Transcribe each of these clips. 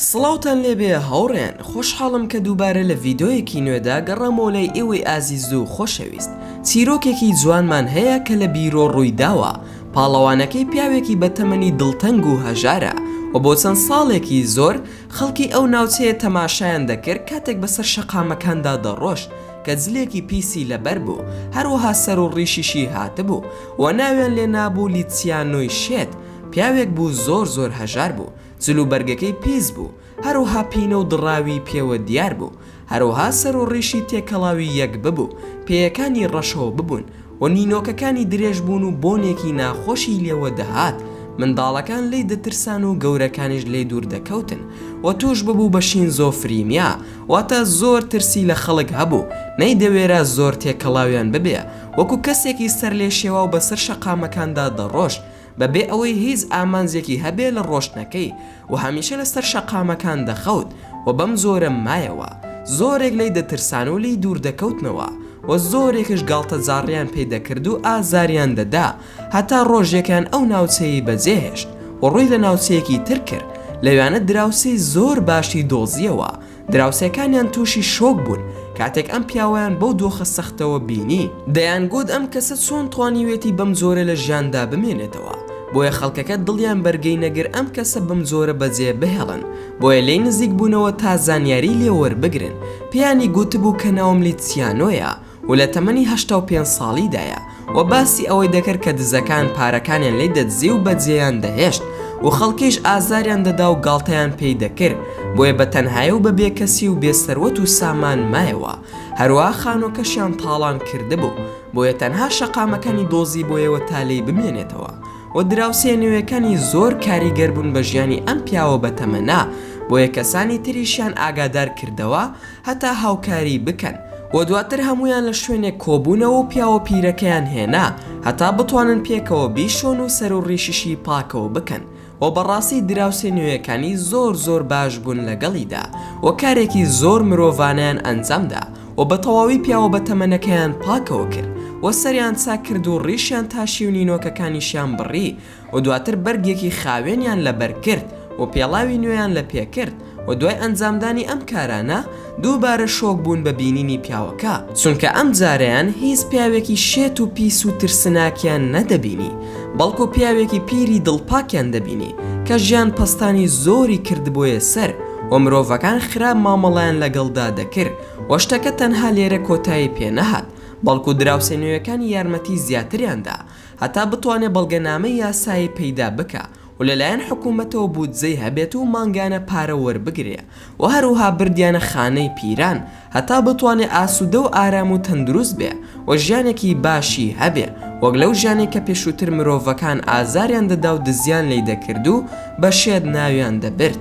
سڵاوتان لێبێ هەوڕێن خۆشحاڵم کە دووبارە لە ڤیددیویەکی نوێدا گەڕامەوە لای ئێوەی ئازیز و خۆشەویست چیرۆکێکی جوانمان هەیە کە لە بیرۆ ڕوویداوە پاڵەوانەکەی پیاوێکی بە تەمەنی دڵتەنگ و هەژارە و بۆ چەند ساڵێکی زۆر خەڵکی ئەو ناوچەیە تەماشایان دەکرد کاتێک بەسەر شەقامەکاندا دەڕۆشت کە جلێکی پیسی لەبەر بوو، هەروەها سەر و ڕیشیشی هاتبوو و ناویان لێ نابوو لیتسیانۆی شێت، پیاوێک بوو زۆر زۆر هەژار بوو، جل و بەرگەکەی پیس بوو، هەروەها پینە و دڕاوی پێوە دیار بوو، هەروەها سەر و ڕیشی تێکەڵاوی یەک ببوو، پێیەکانی ڕەشەوە ببوون و نینۆکەکانی درێژ بوون و بۆنێکی ناخۆشی لێوە دەهات، منداڵەکان لێی دەترسان و گەورەکانیش لێی دوور دەکەوتن و تووش ببوو بە شینزۆفرینیا واتە زۆر ترسی لە خەڵک هەبوو، نەیدەوێرا زۆر تێکەڵاویان ببێ، وەکوو کەسێکی سەرلێشێواو بەسەر شەقامەکاندا دەڕۆشت، بە بێ ئەوەی هیچ ئامانجێکی هەبێ لە ڕۆشتنەکەی و هەمیشە لە سەر شەقامەکان دەخەوت و بەم جۆرە مایەوە، زۆرێک لێی دەترسان و لێی دوور دەکەوتنەوە و زۆرێکش گاڵتەجاڕییان پێ دەکرد و ئازاریان دەدا، هەتا ڕۆژێکیان ئەو ناوچەیەی بەجێ هێشت و ڕووی لە ناوچەیەکی تر کرد، لەوێانە دراوسێی زۆر باشی دۆزییەوە، دراوسێکانیان تووشی شۆک بوون کاتێک ئەم پیاوەیان بەو دۆخە سەختەوە بینی، دەیانگوت ئەم کەسە چۆن توانیوێتی بەم جۆرە لە ژیاندا بمێنێتەوە، بۆیە خەڵکەکە دڵیان بەرگەی نەگر ئەم کەسە بەم جۆرە بەجێ بهێڵن، بۆیە لێی نزیک بوونەوە تا زانیاری لێ وەربگرن، پێیانی گوتبوو کە ناوم لیتسیانۆیە، و لە تەمەنی هەشتا و پێنج ساڵیدایە و باسی ئەوەی دەکرد کە دزەکان پارەکانیان لی دەدزی و بەجێیان دەهێشت و خەڵکیش ئازاریان دەدا و گاڵتەیان پێی دەکرد بۆیە بە تەنهایی و بە بێکەسی و بێ سەروەت و سامان مایەوە هەروەها خانوەکەشیان تاڵان کردبوو بۆیە تەنها شەقامەکانی دۆزیبۆیەوە تا لێی بمێنێتەوە و دراوسێ نوێکانی زۆر کاریگەربوون بە ژیانی ئەم پیاوە بەتەمەنە بۆیە کەسانی تریشیان ئاگادار کردەوە هەتا هاوکاری بکەن و دواتر هەموویان لە شوێنێک کۆبوونەوە و پیاوە پیرەکەیان هێنا هەتا بتوانن پێکەوە بیشۆن و سەر و ڕیشیشی پاکەوە بکەن و بەڕاستی دراوسێ نوێیەکانی زۆر زۆر باش بوون لەگەڵیدا و کارێکی زۆر مرۆڤانەیان ئەنجام دا و بە تەواوی پیاوە بەتەمەنەکەیان پاکەوە کرد و سەریان چاک کرد و ڕیشیان تاشی و نینۆکەکانیشیان بڕی و دواتر بەرگێکی خاوێنیان لەبەر کرد و پێڵاوی نوێیان لە پێ کرد و دوای ئەنجامدانی ئەم کارانە دووبارە شۆک بوون بە بینینی پیاوەکە، چونکە ئەم جارەیان هیچ پیاوێکی شێت و پیس و ترسناکیان نەدەبینی، بەڵکو پیاوێکی پیری دڵپاکیان دەبینی، کە ژیان پەستانی زۆری کردبۆیە سەر و مرۆڤەکان خراپ مامەڵەیان لەگەڵدا دەکرد و شتەکە تەنها لێرە کۆتایی پێنەهات، بەڵکو دراوسێ نوێیەکانی یارمەتی زیاتریان دا. هەتا بتوانێ بەڵگەنامەی یاسایی پەیدا بکا و لەلایەن حکوومەتەوە بودجەی هەبێت و مانگانە پارە وەربگرێ و هەروها بردیانە خانەی پیران هەتا بتوانێ ئاسوودە و ئارام و تەندروست بێ و ژیانێکی باشی هەبێ وەک لەو ژیانەی کە پێشووتر مرۆڤەکان ئازاریان دەدا و دزیان لێی دەکرد و بە شێت ناویان دەبرد.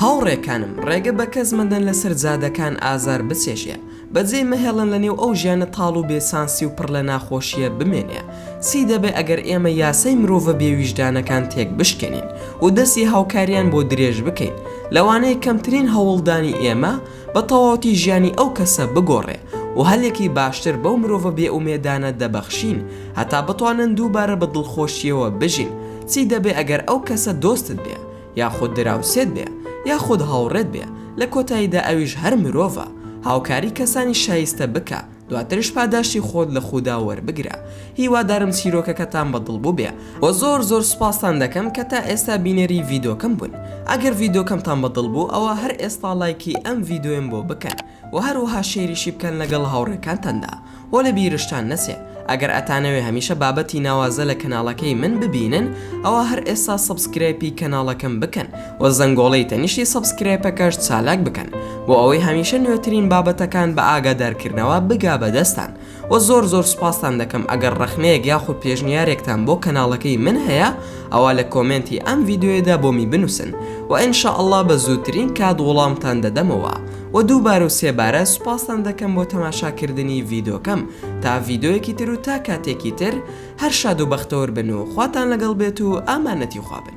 هاوڕێکانم، ڕێگە بە کەس مەدەن لەسەر جادەکان ئازار بچێژێ، بەجێی مەهێڵن لە نێو ئەو ژیانە تاڵ و بێ چانسی و پڕ لە ناخۆشییە بمێنێ. چی دەبێ ئەگەر ئێمە یاسای مرۆڤە بێ ویژدانەکان تێک بشکێنین و دەستی هاوکارییان بۆ درێژ بکەین، لەوانەیە کەمترین هەوڵدانی ئێمە بە تەواوەتی ژیانی ئەو کەسە بگۆڕێ و هەلێکی باشتر بەو مرۆڤە بێ ئومێدانە دەبەخشین هەتا بتوانن دووبارە بە دڵخۆشییەوە بژین. چی دەبێ ئەگەر ئەو کەسە دۆستت بێ؟ یاخود دراوسێت بێ، یاخود هاوڕێت بێ، لە کۆتاییدا ئەویش هەر مرۆڤە، هاوکاری کەسانی شایستە بکە، دواترش پاداشتی خۆت لە خودا وەربگرە. هیوادارم چیرۆکەکەتان بە دڵ بووبێ و زۆر زۆر سوپاستان دەکەم کە تا ئێستا بینەری ڤیدۆکەم بوون. ئەگەر ڤیدۆکەمتان بە دڵ بوو ئەوا هەر ئێستا لایکی ئەم ڤیدۆیەم بۆ بکەن. وە هەروەها شیریشی بکەن لەگەڵ هاوڕێکانتاندا وە لە بیرشتان نەچێ ئەگەر ئەتانەوێ هەمیشە بابەتی ناوازە لە کەناڵەکەی من ببینن ئەوا هەر ئێستا سەبسکرایپی کەناڵەکەم بکەن وە زەنگۆڵەی تەنیشتی سەبسکرایپەکەش چالاک بکەن بۆ ئەوەی هەمیشە نوێترین بابەتەکان بە ئاگادارکردنەوە بگا بە دەستان وە زۆر زۆر سوپاستان دەکەم ئەگەر ڕەخنەیەک یاخود پێشنیارێکتان بۆ کەناڵەکەی من هەیە ئەوا لە کۆمێنتی ئەم ڤیدیۆیەدا بۆمی بنووسن وە ان شاء اللە بە زووترین کات وڵامتان دەدەمەوە وە دووبارە و سێبارە سوپاستان دەکەم بۆ تەماشاکردنی ڤیدۆکەم تا ڤیدۆیەکی تر و تا کاتێکی تر هەر شاد و بەختەور بن و خواتان لەگەڵ بێت و ئامانەتی خوا بن.